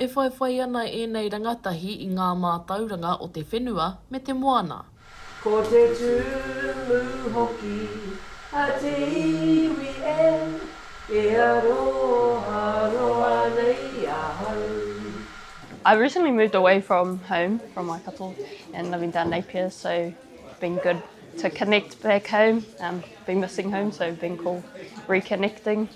E whaiwhai ana ēnei rangatahi i ngā mātauranga o te whenua me te moana. Ko te tūrumu hoki a te iwi e. E aroha noa nei ahau. I've recently moved away from home from Waikato and living down Napier so been good to connect back home, been missing home so been cool reconnecting.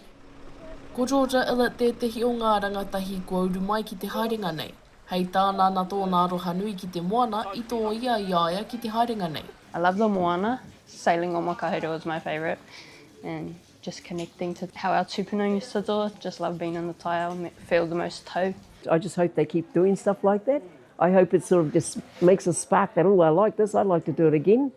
Ko Georgia Ellett tētehi o ngā rangatahi kua uru mai ki te haerenga nei. Hei tāna ana tōna aroha nui ki te moana i tōia i a ia ki te haerenga nei. I love the moana, sailing on Makaurau is my favourite and just connecting to how our tupuna used to do it, just love being in the taiao, feel the most tau. I just hope they keep doing stuff like that, I hope it sort of just makes a spark that oh I like this, I'd like to do it again.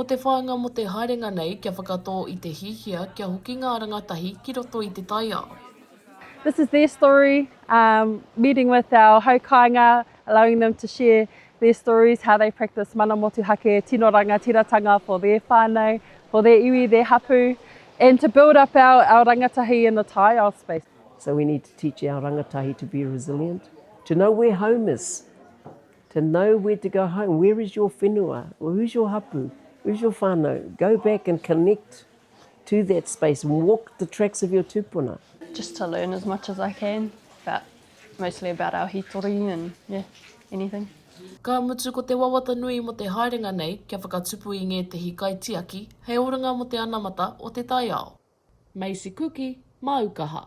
Ko te whāinga mō te haerenga nei kia whakatō i te hiahia kia hoki ngā rangatahi ki roto i te taiao. This is their story, um, meeting with our hau kāinga, allowing them to share their stories, how they practice mana motuhake, tino rangatiratanga for their whānau, for their iwi, their hapu, and to build up our, our rangatahi in the taiao space. So we need to teach our rangatahi to be resilient, to know where home is. To know where to go home, where is your whenua, or who's your hapu, who's your whanau, go back and connect to that space, walk the tracks of your tupuna. Just to learn as much as I can, but mostly about our hitori and yeah, anything. Ka mutu ko te wawata nui mo te haerenga nei kia whakatupu i ngētehi kaitiaki hei oranga mo te anamata o te taiao. Macy Kuki, Māukaha.